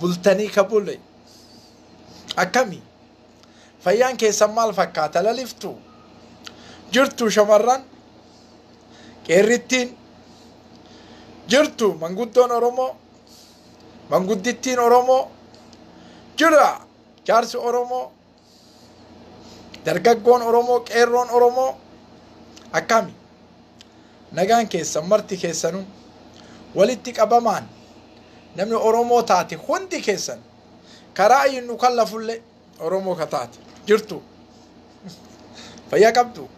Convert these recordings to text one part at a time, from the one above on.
bultanii ka bule akkami fayyaan keessan maal fakkaata laliftu jirtu shamarran qeerrittiin jirtu manguddoon oromoo manguddittiin oromoo jira jaarsi oromoo Dargaggoon Oromoo, qeerroon Oromoo akkami? Nagaan keessan marti keessanuu walitti qabamaan namni Oromoo taate hundi keessan karaa ayyin nu kallafullee Oromoo ka taate jirtu. Fayyaa qabdu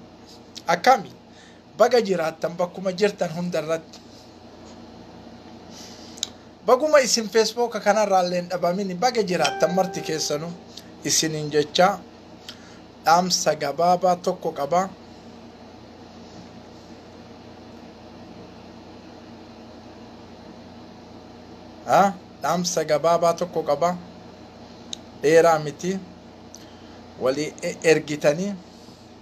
akkami? Baga jiraattan bakkuma jirtan hunda irratti. Baguma isin feesbooka kanarraa illee hin dhabamini baga jiraattan marti keessanu isiniin jechaa dhaamsa gabaabaa tokko qaba. Ah, dhaamsa gabaabaa tokko qaba. Dheeraa miti. Walii e- ergitanii.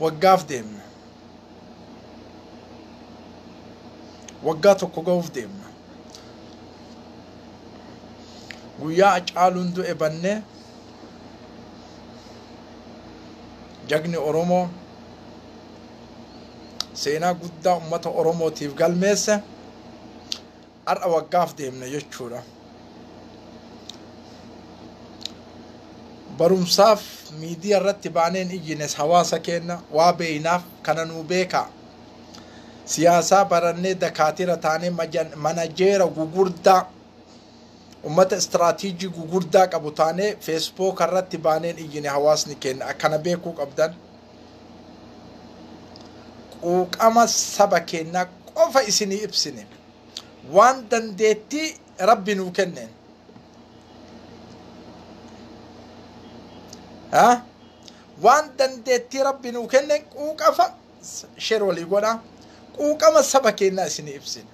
Waggaaf deemna. Waggaa tokko ga'uuf deemna. Guyyaa Hacaaluun du'e bannee jagni Oromoo seenaa guddaa ummata Oromootiif galmeesse Har'a waggaaf deemna jechuudha. Barumsaaf miidiyaa irratti baaneen iyyines hawaasa keenya waa beeynaaf kana nuu beekaa. Siyaasaa barannee dakaatira taanee manajeera gugurdaa ummata istiraatiijii gugurdaa qabu taanee feesbooka irratti baaneen iyyine hawaasni keenya akkana beekuu qabdan. Quuqama saba keenyaa qofa isinii ibsine. waan dandeettii rabbi nuu kenneen Ah, waan dandeettii rabbi nuu kenneen quuqafa sheer walii godha quuqama saba keenyaa isinii ibsina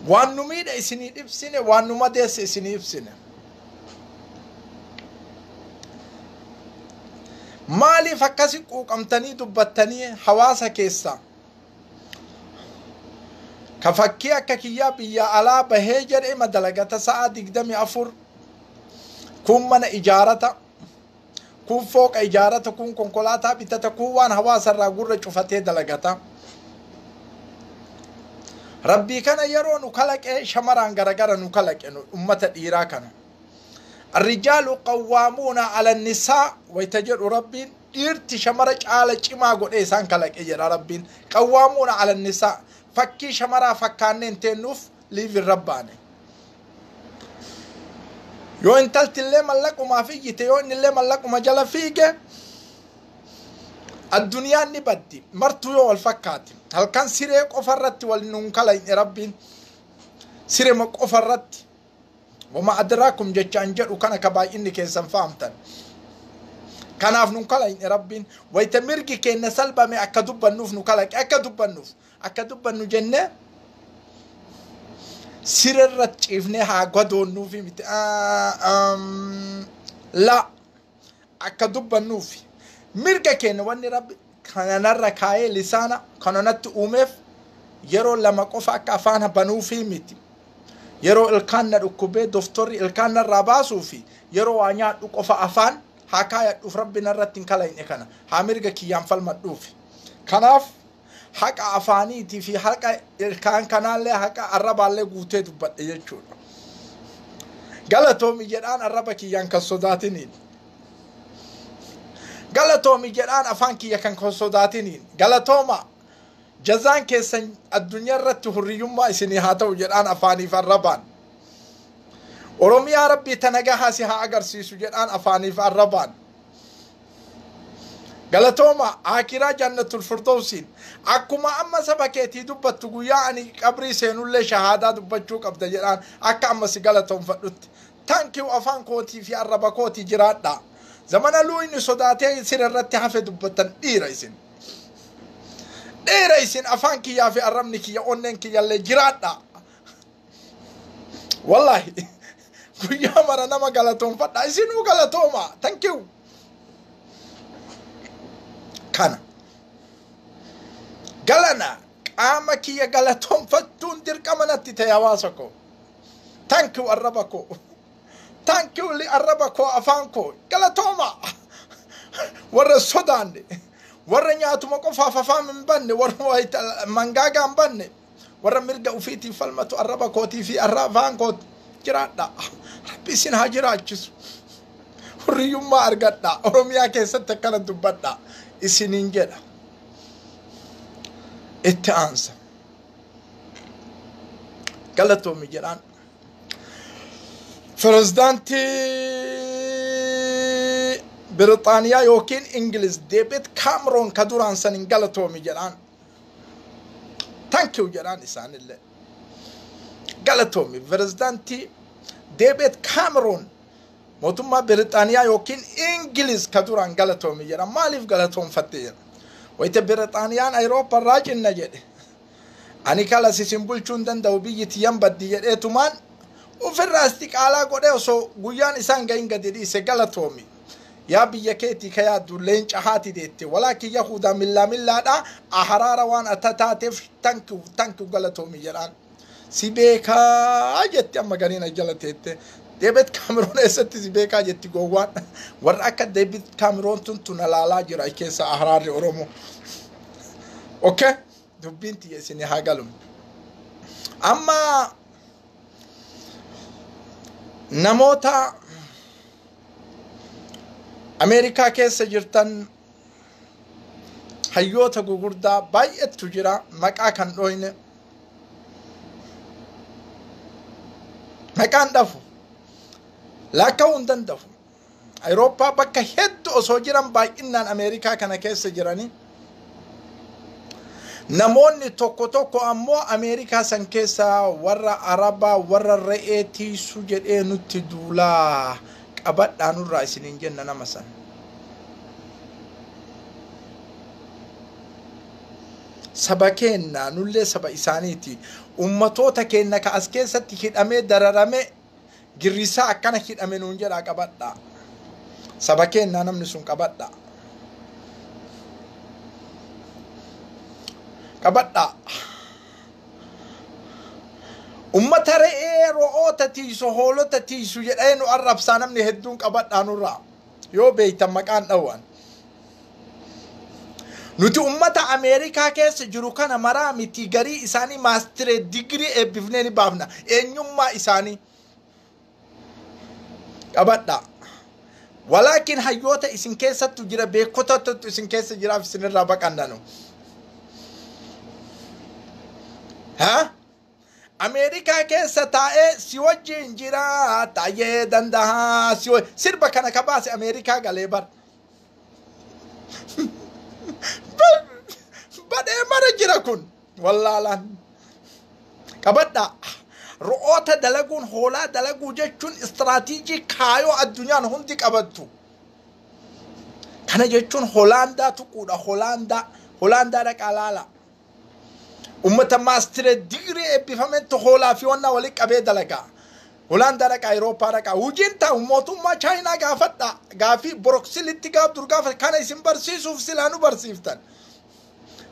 waan nu miidhe isinii ibsine waan nu madeesse isinii ibsine maaliif akkasi quuqamtanii dubbattanii hawaasa keessaa ka fakkii akka kiyyaa biyya alaa bahee jedhe ima dalagata sa'a digdami afur kun mana ijaarata Kuun fooqa ijaarata, kuun konkolaataa bitata, kuun waan hawaasa irraa gurra cufatee dalagata. Rabbii kana yeroo nu kalaqe shamaraan garagara nu kalaqe nu ummata dhiiraa kana. Arrijaalu qawwaamuuna alannisaa wayita jedhu rabbiin dhiirti shamara caala cimaa godhee isaan kalaqe jedha rabbiin. Qawwaamuuna alannisaa fakkii shamaraa fakkaanneen teennuuf liif irra baane. Yoo intalti illee mallaqumaaf iyyite yoo inni illee mallaquma jala fiige addunyaan ni baddi martuu yoo wal fakkaate halkan siree qofa irratti wal nuun kalayne rabbiin sirema qofa irratti wama adraakum jechaan jedhu kana ka baay'inni keessan fahamtan kanaaf nun kalayne rabbiin wayita mirgi keenna salbame akka dubbannuuf nu kalaqe akka dubbannuuf Akka dubbannu jennee siree irratti ciifnee haa gadoonnuufi miti. Laa akka dubbannuufi mirga keenya wanni rabbi kanarra kaa'ee lisaana kana natti uumeef yeroo lama qofa akka afaan banuufi miti. Yeroo ilkaan na dhukkubee doftorri ilkaan narraa baasuu fi yeroo waa nyaadhu qofa afaan haa kaayadhuuf rabbi narratti hin kalayne kana haa mirga kiyyaan falmadhuufi. Kanaaf haqa afaaniitii fi haqa ilkaan kanaallee haqa arrabaallee guutee dubbadhe jechuudha. Galatoomi jedhaan arraba kiyyaan kan sodaatiniin. Galatoomi jedhaan afaan kiyya kan kan sodaatiniin. Galatooma jazaan keessan addunyaa irratti hurriyyummaa isinii haa ta'u jedhaan afaaniif arrabaan. Oromiyaa rabbii tana gahaa si haa agarsiisu jedhaan afaaniif arrabaan. Galatooma aakiraa jannatul firdowsiin akkuma amma saba keetii dubbattu guyyaa ani qabrii seenullee shahaadaa dubbachuu qabda jedhaan akka amma si galatoomfadhutti thank you afaan kootii fi arraba kooti jiraadhaa zamana luuyni sodaatee sira irratti hafe dubbattan dhiira isin dhiira isin afaan kiyyaa fi arrabni kiyya onneen kiyyallee jiraadhaa Wallaahi guyyaa mara nama galatoonfadha isinuu galatooma thank you kana galana qaama kiyya galatoonfachuun dirqama natti ta'e hawaasa koo thank you arraba koo thank you li arraba koo afaan koo galatooma warra sodaanne warra nyaatuma qofaaf afaan hin banne warra wayita mangaagaa hin banne warra mirga ufiitiif falmatu arraba kootii fi arraa afaan kooti jiraadha rabbi isin haa jiraachisu hurriyyummaa argadha oromiyaa keessatti akkana dubbadha isiniin jedha itti aansa galatoomi jedhaan pirezidaantii birixaaniyaa yookiin ingiliz deebit kaamroon ka duraan san hin galatoomi jedhaan Thank you jedhaan isaanillee. Galatoomi pirezidaantii Deebeet Kaameroon mootummaa Biritaaniyaa yookiin Ingiliz ka duraan galatoomi jedha. Maaliif galatoonfatte jedha. Wayita Biritaaniyaan Ayirooppaa irraa cinna jedhe. Ani kalas isin bulchuu hin danda'u biyyi tiyyan baddi jedheetumaan ofirraa istiqaalaa godhee osoo guyyaan isaan gahin gadi dhiise galatoomi. yaa biyya keetii ka yaaddu leenca haati deette walaa kiyya huudaa millaa millaadha aharaara waan ata taateef tankiu tankiu galatoomi jedhaan si beekaa jetti amma gariin ajjala teette deebet kaamiroon eessatti si beekaa jetti gowwaan warra akka deebit kaamiroon tun tun alaalaa jira achi keessa aharaarri oromoo okay dubbiin tiyya isin haa galu amma namoota Ameerikaa keessa jirtan hayyoota gugurdaa baay'eetu jira maqaa kan dhooyne maqaan dhafu laakka'uu hin danda'u. Awurooppaa bakka hedduu osoo jiran baay'inaan Ameerikaa kana keessa jiranii Namoonni tokko tokko ammoo Ameerikaa san keessaa warra Arabaa warra re'ee tiisu jedhee nutti duulaa qabadhaa nurraa isiniin jenna nama san. Saba keenna nullee saba isaaniiti. Ummatoota keenna ka as keessatti hidhamee dararamee girriissaa akkana hidhame nuun jedhaa qabadhaa saba keennaa namni sun qabadhaa qabadhaa ummata re'ee ro'oota tiisu hoolota tiisu jedhee nu arrabsaa namni hedduun qabadhaa nurraa Yoo beektan maqaan dhawaan. Nuti ummata Ameerikaa keessa jiru kana maraa miti garii isaanii maastiree digirii eebbifnee ni baafna. Eenyummaa isaanii qabadhaa. Walaakin hayyoota isin keessattu jira beekotatu isin keessa jiraaf isinirraa baqannanu. Haa? Ameerikaa keessa taa'ee si wajjin jira taayee dandahaa si wa- sirba kana ka baase Ameerikaa galee bar. Ba- Badhee mara jira kun wallaalaan. Qabadhaa. Ro'oota dalaguun hoolaa dalaguu jechuun istiraatiijii kaayoo addunyaan hundi qabattu. Kana jechuun Holaandaa tuquudha. Holaandaa. Holaandaa dhaqaa laala. Ummata maastire digirii eebbifametti hoolaa fi wannaa walitti qabee dalagaa. Holaandaa dhaqaa, Awurooppaa dhaqaa. Hojiin taa'u mootummaa Chaayinaa gaafadhaa. Gaafii Boroksilitti gaaf dur gaafa kana isin barsiisuuf silaa nu barsiiftan.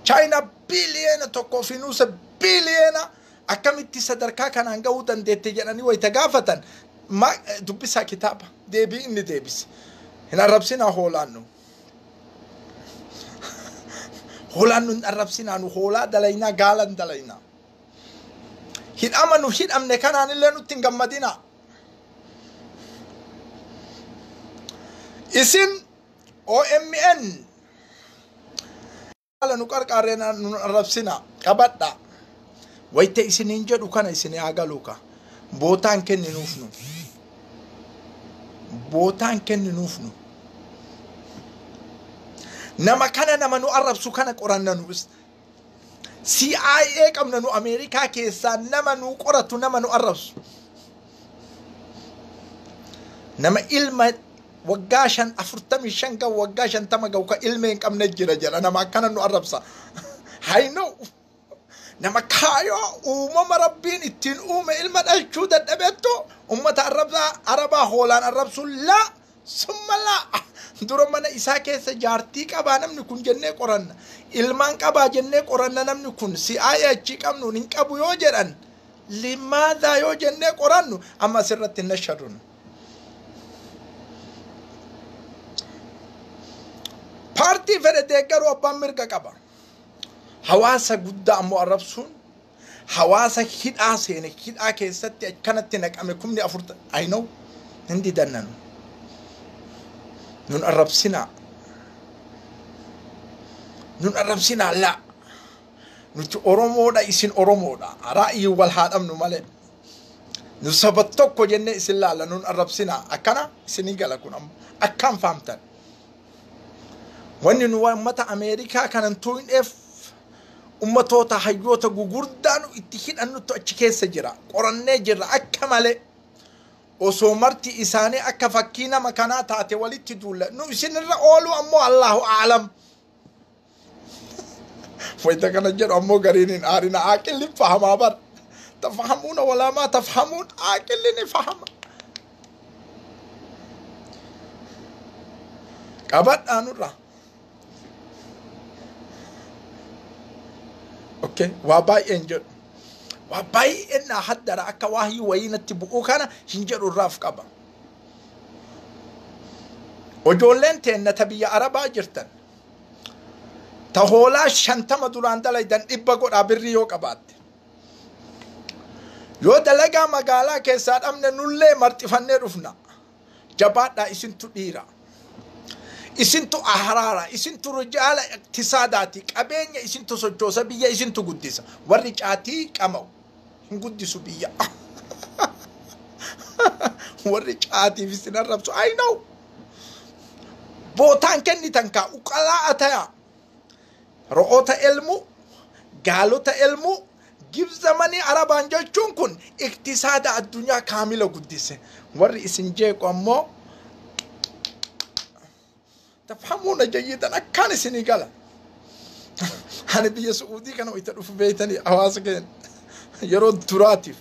Chaayinaa biiliyeena tokkoo fi nuusa biiliyeena akkamitti sadarkaa kanaan ga'uu dandeette jedhanii wayita gaafatan dubbisaa kitaaba deebii inni deebise. Hin arrabsinaa hoolaan nu. Hoolaan nun arrabsinaa nu hoolaa dalaynaa gaalan dalaynaa. Hidhama nu hidhamne kanaan illee nutti hin gammadinaa. Isin OMN Haala nu qarqaarree na- nu arrabsina qabadha. Wayita isiniin jedhu kana isin haa galuu ka. Bootaan kenninuuf nu. Bootaan kenninuuf nu. Nama kana nama nu arrabsu kana qoranna nu is. CIA qabna nu Ameerikaa keessaa nama nu qoratu nama nu arrabsu. nama ilma waggaa shan afurtamii shan gahu waggaa shantama gahu ka ilma hin qabne jira jedha nama akkana nu arrabsa haynoo nama kaayoo uumama rabbiin ittiin uume ilma dhalchuu dadhabettu ummata arrabsaa arabaa hoolaan arrabsuun laa Submallah dura mana isaa keessa jaartii qabaa namni kun jennee qoranna ilmaan qabaa jennee qoranna namni kun si'aa'ee achii qabnuun hin qabu yoo jedhan limaadaa yoo jennee qorannu amma asirratti hin nashadun. Paartii fedhe deeggaruu abbaan mirga qaba. Hawaasa guddaa ammoo arrabsuun Hawaasa hidhaa seene hidhaa keessatti akkanatti naqame kumni afur I know hin didanna nu. Nun arrabsinaa. Nun arrabsinaa laa. Nuti Oromoodha isin Oromoodha. Ra'ayiin wal haa dhabnu malee. Nu saba tokko jennee isin laalla nun arrabsinaa. Akkana isinii gala kun amma. Akkaan faamtan. Wanni nu uummata Ameerikaa kanantuu hin dheef Ummatoota hayyoota gugurdaa nu itti hidhannuttu achi keessa jira. Qorannee jirra akka malee. Osoo marti isaanii akka fakkii nama kanaa taate walitti duulla. Nu isinirra ooluu ammoo Allaahu aalam. Wayita kana jedhu ammoo gariin hin aarina aaqilli hin fahamaa bar. Tafahamuuna walaamaa tafahamuun aaqilli ni fahama. Qabadhaa nurraa. Okay. Waa baay'ee hin jedhu. Waa baay'ee naa haddara akka waahii wayii natti bu'uu kana hin jedhu irraaf qaba. Ijoolleen teenna ta biyya Arabaa jirtan ta hoolaa shantama duraan dalaydan dhibba godhaa birrii yoo qabaatte. Yoo dalagaa magaalaa keessaa dhabne nullee marxifannee dhufna. jabaadhaa isintu dhiira isintu ahraara isintu rijaala iqtisaadaati qabeenya isintu sochoosa biyya isintu guddisa warri caatii qama'u hin guddisu biyya warri caatiif isin arrabsu I know bootaan kennitan kaa uqalaa atayaa Ro'oota elmuu, gaalota elmuu, Gibs zamanii Arabaan jechuun kun iktisaada addunyaa kaamila guddise. Warri isin jeequ ammoo tafhamuuna jayyidan akkaan isinii gala. Ani biyya Su'uudii kana wayita dhufu beeytanii hawaasa keenya yeroo duraatiif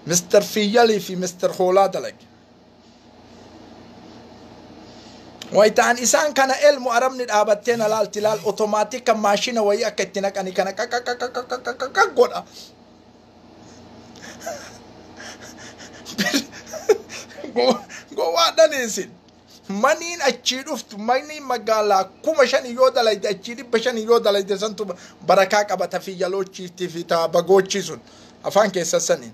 Mr. Fiyyalii fi Mr. Hoolaa dalage. Wayitaan isaan kana elmu arabni dhaabattee na laalti laal otomaatik kan maashina wayii akka itti naqanii kana qaqaqaqaqaqaqaqa godha. Gowwaadhan isin. Maniin achii dhuftu maniin magaalaa kuma shanii yoo dalayde achii dhibba shanii yoo dalayde santu barakaa qabata fi yaloochiiftii fi taa bagoochii sun afaan keessa saniin.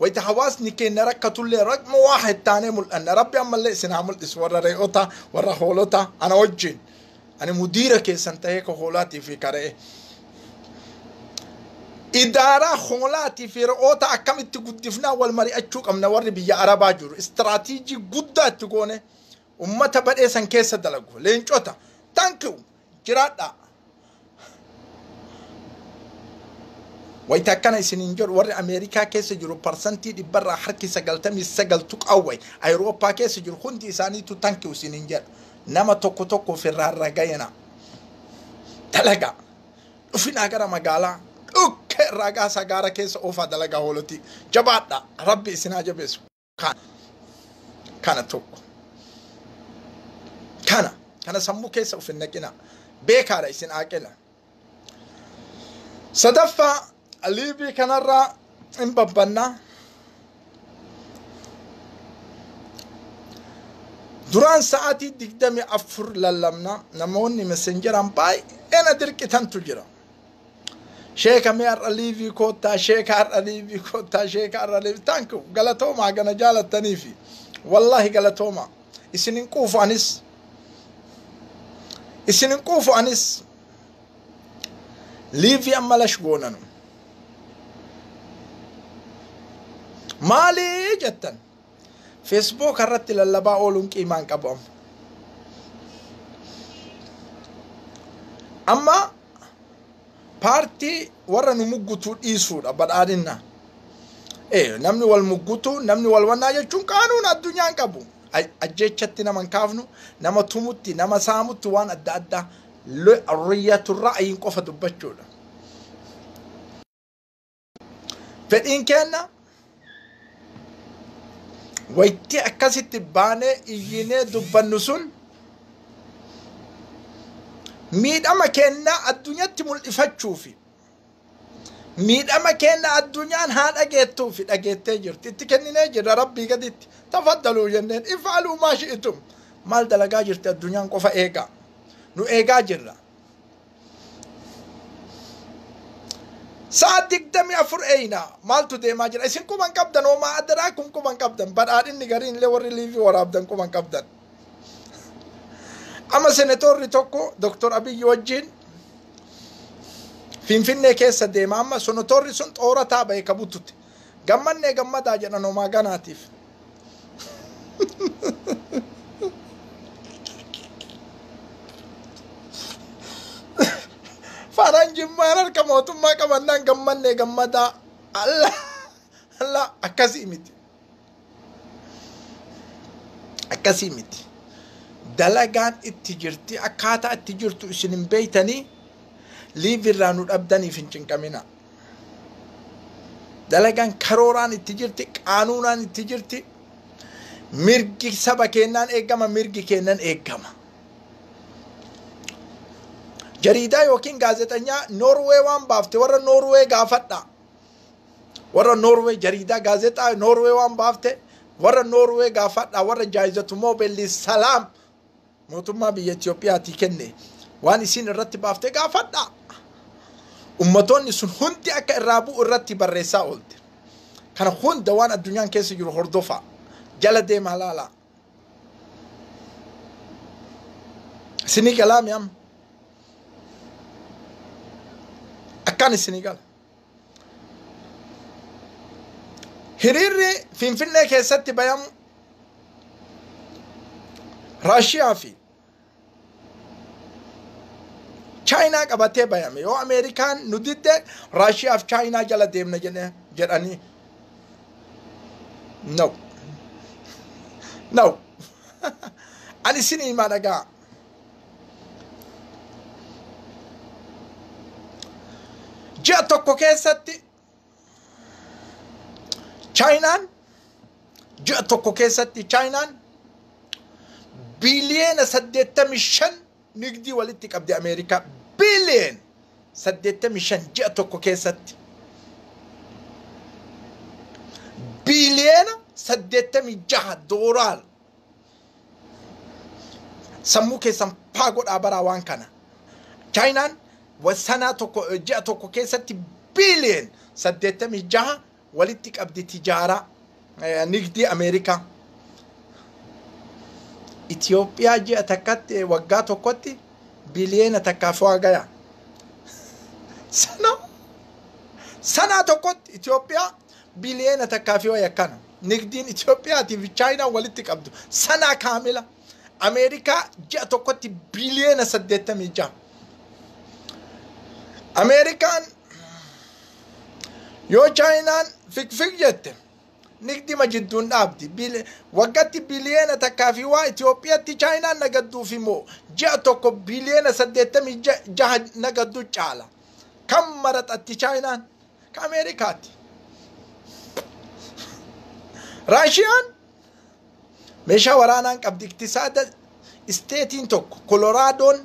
Wayta hawaasni keenna rakkatullee raqma waahid taanee mul'anna. Rabbi ammallee isin haa mul'isu warra re'oota, warra hoolota ana wajjin. Ani mudiira keessan ta'ee ka hoolaatii fi ka re'ee. Idaaraa hoolaatii fi re'oota akkamitti guddifnaa wal mari'achuu qabna warri biyya Arabaa jiru. Istiraatiijii guddaa itti goone ummata badhee san keessa dalagu. Leencota. Thank you. jiraadhaa. Wayita akkana isiniin jedhu warri Ameerikaa keessa jiru parsantii dhibbarraa harki sagaltamii sagal tuqaa wayi Ayirooppaa keessa jiru hundi isaaniitu tankiu isiniin jedha. Nama tokko tokko ofirraan ragayina. Dalagaa. Dhufinaa gara magaalaa. Dhukkee irraa gaasaa gaara keessa oofaa dalagaa hoolotii. Jabaadhaa. Rabbi isinaa jabeessu. Kana. Kana tokko. Kana. Kana sammuu keessa of hin naqina. Beekaadha isin aaqila. Sadaffaa liivii kanarraa hin babbannaa. Duraan sa'aatii digdami afur lallabna namoonni messenjeran baay'ee na dirqitantu jira. Sheeka mee har'a liivii koottaa sheeka har'a liivii koottaa sheeka har'a liivii thank you galatoomaa gana jaalattanii fi wallaahi galatoomaa isin hin quufu anis isin hin quufu anis liivii amma lash goonanu maalii jettan Feesbuuka irratti lallabaa ooluun qiimaa hin qabu amma. Amma paartii warra nu muggutuu dhiisuudha badhaadhinna. Eh, namni wal muggutuu, namni wal wannaa jechuun qaanuun addunyaa hin qabu. Aj- Ajjeechatti nama hin kaafnu, nama tumutti, nama saamutti waan adda addaa riyyatu ra'ayiin qofa dubbachuudha. Fedhiin keenna waytii akkasitti baanee iyyinee dubbannu sun miidhama keennaa addunyaatti mul'ifachuu fi miidhama keenna addunyaan haa dhageettuu fi dhageettee jirti itti kenninee jirra rabbii gaditti tafaddaluu jenneen ifaaluu maa shi'itum maal dalagaa jirti addunyaan qofa eegaa nu eegaa jirra sa'a digdamii afur eeyna maaltu deemaa jira isin quban qabdan hoomaa adaraa kun quban qabdan badhaadhinni gariin illee warri liivii waraabdan quban qabdan amma senetoorri tokko doktor abiyyi wajjiin finfinnee keessa deema amma senetoorri sun xoorataa bahe ka bututte Gammannee gammadaa jedhan homaa ganaatiif. Faaraan jimmaan harka mootummaa qabannaan gammannee gammadaa. Allah Allah akkasii miti. akkasii miti dalagaan itti jirti akkaataa itti jirtu isin hin beeytanii liiv irraa nu dhabdaniif hin cinqamina dalagaan karooraan itti jirti qaanuunaan itti jirti mirgi saba keennaan eegama mirgi keennan eegama jariidaa yookiin gaazexanyaa noorwee waan baafte warra noorwee gaafadha warra Norway jariidaa gaazexaa Norway waan baafte warra Norway gaafadha warra jaayizatu moobelli salaam mootummaa biyya Itoophiyaatii kenne waan isiin irratti baafte gaafadha. Ummatoonni sun hundi akka irraa bu'u irratti barreessaa oolte. Kana hunda waan addunyaan keessa jiru hordofaa jala deemaa laalaa. Isinii galaami amma. Akkaan isinii gala. Hiriirri Finfinnee keessatti bayamu Raashiyaa fi Chaayinaa qabatee bayame yoo Ameerikaan nu didde Raashiyaa fi Chaayinaa jala deemna jedhe- jedhanii. No. No. Ani isin himaa dhagaa. Ji'a tokko keessatti Chaayinaan ji'a tokko keessatti Chaayinaan biiliyeena 85 nigdii walitti qabdi Ameerikaa biiliyeen 85 ji'a tokko keessatti biiliyeena 86 doolaar sammuu keessan paa godhaa baraa waan kana chaayinaan sanaa tokko ji'a tokko keessatti biiliyen saddeettamii jaha walitti qabdi tijaaraa nigdii ameerikaa Itoophiyaa ji'a takkatti waggaa tokkotti biiliyeena takkaaf waa gaya sana sanaa tokkotti Itoophiyaa Biliyeena takkaa fi waya kana. Nigdiin Itoophiyaatii fi Chaayinaan walitti qabdu sanaa kaamila. Ameerikaa ji'a tokkotti biliyeena 86. Ameerikaan yoo Chaayinaan fikfik jette nigdima jidduun dhaabdi. Bili- Waggatti biliyeena takkaa fi waa Itoophiyaatti Chaayinaan nagadduuf immoo ji'a tokko biliyeena 86 nagaddu caala. Kan maraxatti Chaayinaan Akka Ameerikaatti. Raashiyaan meeshaa waraanaan qabdi iktisaada isteetiin tokko koloraadoon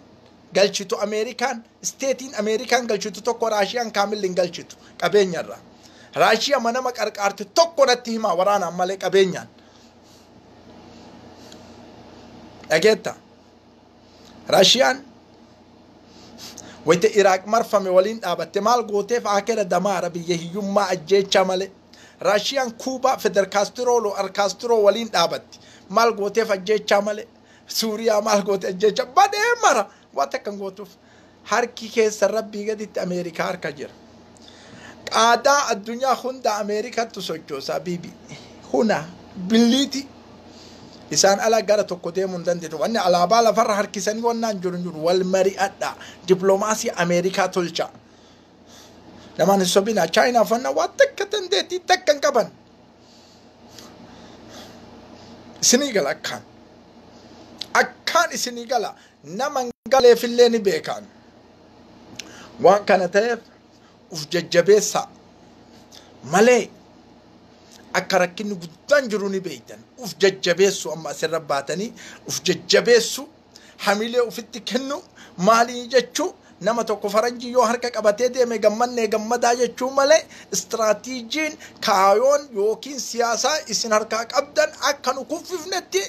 galchitu ameerikaan isteetiin ameerikaan galchitu tokko raashiyaan kaamilli hin galchitu qabeenyarra raashiya manama qarqaarte tokko natti himaa waraanaan malee qabeenyaan dhageetta Raashiyaan wayita Iraaq marfame waliin dhaabatte maal gooteef Aakera Damaara biyya hiyyummaa ajjeechaa malee. Raashiyaan Kuubaa Feder Kaastiroo Lo'ar Kaastiroo waliin dhaabatti maal gooteef ajjeechaa malee. Suuriyaa maal goote ajjeechaa badee mara waa takka hin gootuuf. Harki keessan Rabbii gaditti Ameerikaa harka jira. Qaadaa addunyaa hunda Ameerikattu sochoosa bibi. Huna billiiti. Isaan ala gara tokko deemuu hin dandeettu. Wanni alaabaa lafarra harkisanii wannaan jiru hin jiru. Wal mari'adha. Diploomaasii Ameerikaa tolcha. Namaan hin sobina. Chaayinaaf wanna waa takka dandeettii takka hin qaban. Isinii gala akkaan. Akkaan isinii gala. nama hin galeefillee ni beekaan waan kana ta'eef uf jajjabeessaa malee akka rakkinni guddaan jiru ni beektan uf jajjabeessu amma asirra baatanii uf jajjabeessu hamilee ufitti kennu maalii jechuu nama tokko faranjii yoo harka qabatee deeme gammannee gammadaa jechuu malee istiraatiijiin kaayoon yookiin siyaasaa isin harkaa qabdan akka nu kuffifnetti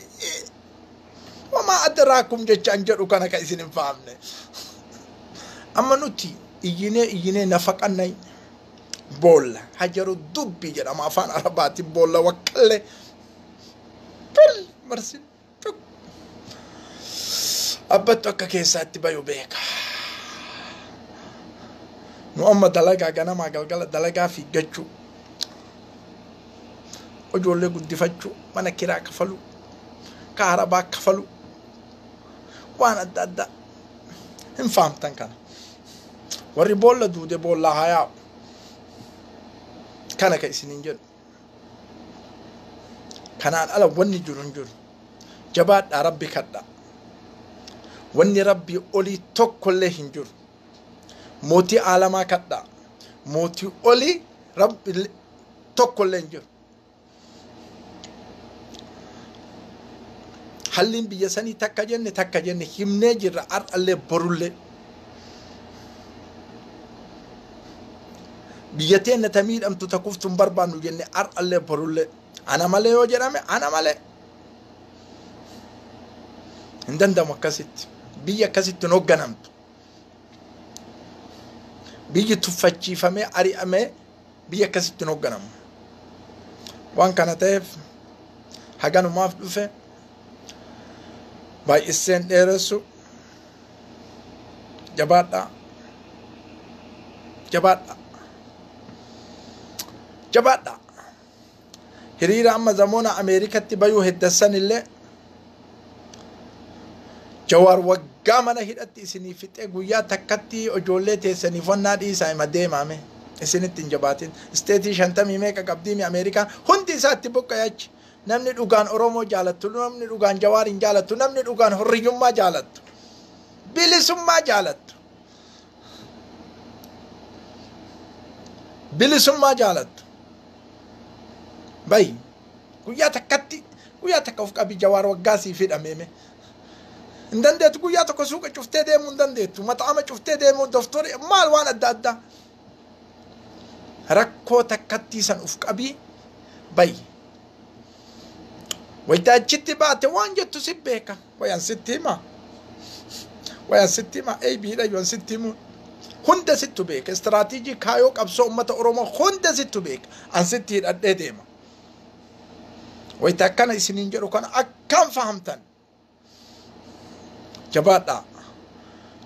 Wamaa adraakum jechaan jedhu kana ka isin hin fahamne. Amma nuti iyyinee iyyinee nafaqanna boolla hajaru dubbi jedhama afaan arabaatiin boolla waqqallee. Bol marsin cuk. Abbattu akka keessaatti bayu beeka. Nu amma dalagaa ganamaa galgala dalagaa fiiggachuu. ijoollee guddifachuu mana kiraa kafaluu kaharabaa kafaluu waan adda addaa hin fahamtan kana warri boolla duude boollaa haa yaa'u kana ka isiniin jedhu kanaan ala wanni jiru hin jiru jabaadhaa rabbi kadhaa wanni rabbii olii tokkollee hin jiru mootii aalamaa kadhaa mootii olii rabbi tokko illee hin jiru. Halliin biyya sanii takka jenne takka jenne himnee jirra har'allee borullee. Biyya teenna ta miidhamtu ta kuftu hin barbaannu jenne har'allee borullee. Ana malee yoo jedhame ana malee. Hin danda'amu akkasitti. Biyya akkasitti hin hoogganamtu. biyyi tuffachiifamee ari'amee biyya akkasitti hin hoogganamu. Waan kana ta'eef haganumaaf dhufe baay'isseen dheeressu jabaadhaa jabaadhaa jabaadhaa. hiriira amma zamoona Ameerikatti bayuu heddassan illee Jawaar waggaa mana hidhatti isinii fixee guyyaa takkatti ijoollee teessaniif wannaa dhiisaa hima deemaame isinitti hin jabaatin isteetii shantamii meeqa qabdiimi Ameerikaan hundi isaa itti buqqa'e achi namni dhugaan Oromoo jaalattu namni dhugaan Jawaar hin jaalattu namni dhugaan horriyyummaa jaalattu bilisummaa jaalattu bilisummaa jaalattu bayi guyyaa takkatti guyyaa takka of qabi jawaar waggaa siif hidhameeme hin dandeettu guyyaa tokko suuqa cuftee deemuu hin dandeettu maxaama cuftee deemuu doftori maal waan adda addaa rakkoo takkattii san of qabii bayi Wayita achitti baate waan jettu si beeka. Wayan sitti hima. Wayan sitti hima. Eebiidha yoon sitti himu. Hunda sittu beeka. Istiraatiijii kaayoo qabsoo uummata Oromoo hunda sittu beeka. An sitti hidhadhee deema. Wayita akkana isiniin jedhu kana akkaan fahamtan. jabaadhaa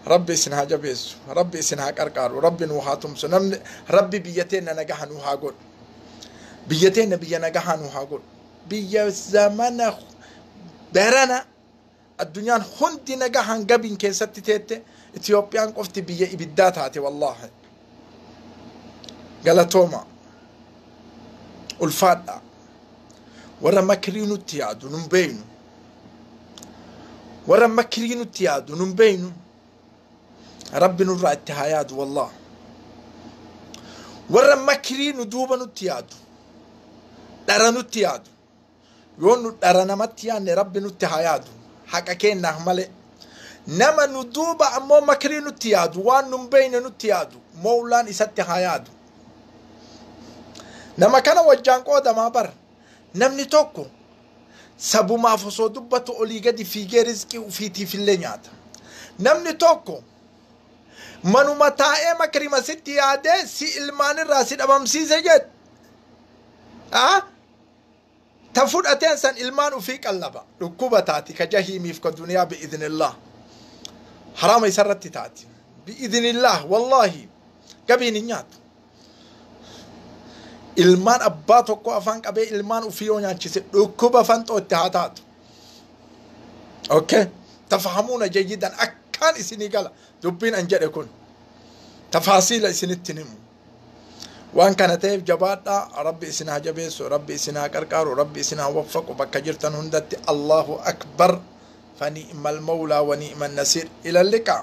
rabbi isin haa jabeessu rabbi isin haa qarqaaru rabbi nuu haa tumsu namni rabbi biyya teenna nagaha nuu haa godhu biyya teenna biyya nagahaa nuu haa godhu biyya zamana barana addunyaan hundi nagahaan gabiin keessatti teette Itiyoophiyaan qofti biyya ibiddaa taate wallaahi galatooma ulfaadha warra makirii nutti yaadu nun beeynu warra makirii nutti yaadu nun beeynu rabbi nurraa itti haa yaadu wallah warra makirii nu duuba nutti yaadu dhara nutti yaadu Yoo nu dhara namatti yaanne Rabbi nutti haa yaadu. Haqa keennaaf malee. Nama nu duuba ammoo makrii nutti yaadu, waan nun beeyne nutti yaadu, mowlaan isatti haa yaadu. Nama kana wajjaan qoodamaa bar. Namni tokko sabumaaf osoo dubbatu olii gadi fiigee rizqii ufiitiif illee nyaata. Namni tokko manuma taa'ee makrima sitti yaadee si ilmaanirraa si dhabamsiise jedhe. Ah? Ta fudhateen san ilmaan ufii qallaba. Dhukkuba taati ka jahiimiif ka duniyaa bi'idhnillah. Haraama isarratti taati. Bi'idhnillah wallaahi gabiin hin nyaatu. Ilmaan abbaa tokko afaan qabee ilmaan ufii yoo nyaachise dhukkuba fanxoo itti haa taatu. Okay. Tafahamuuna jayyidan akkaan isinii gala dubbiin an jedhe kun. Tafaasiila isinitti himu. waan kana ta'eef jabaadhaa rabbi isin haa jabeessu rabbi isin haa qarqaaru rabbi isin haa waffaqu bakka jirtan hundatti allahu akbar fani'mal mawlaa wani'man nasiir ilalliqaa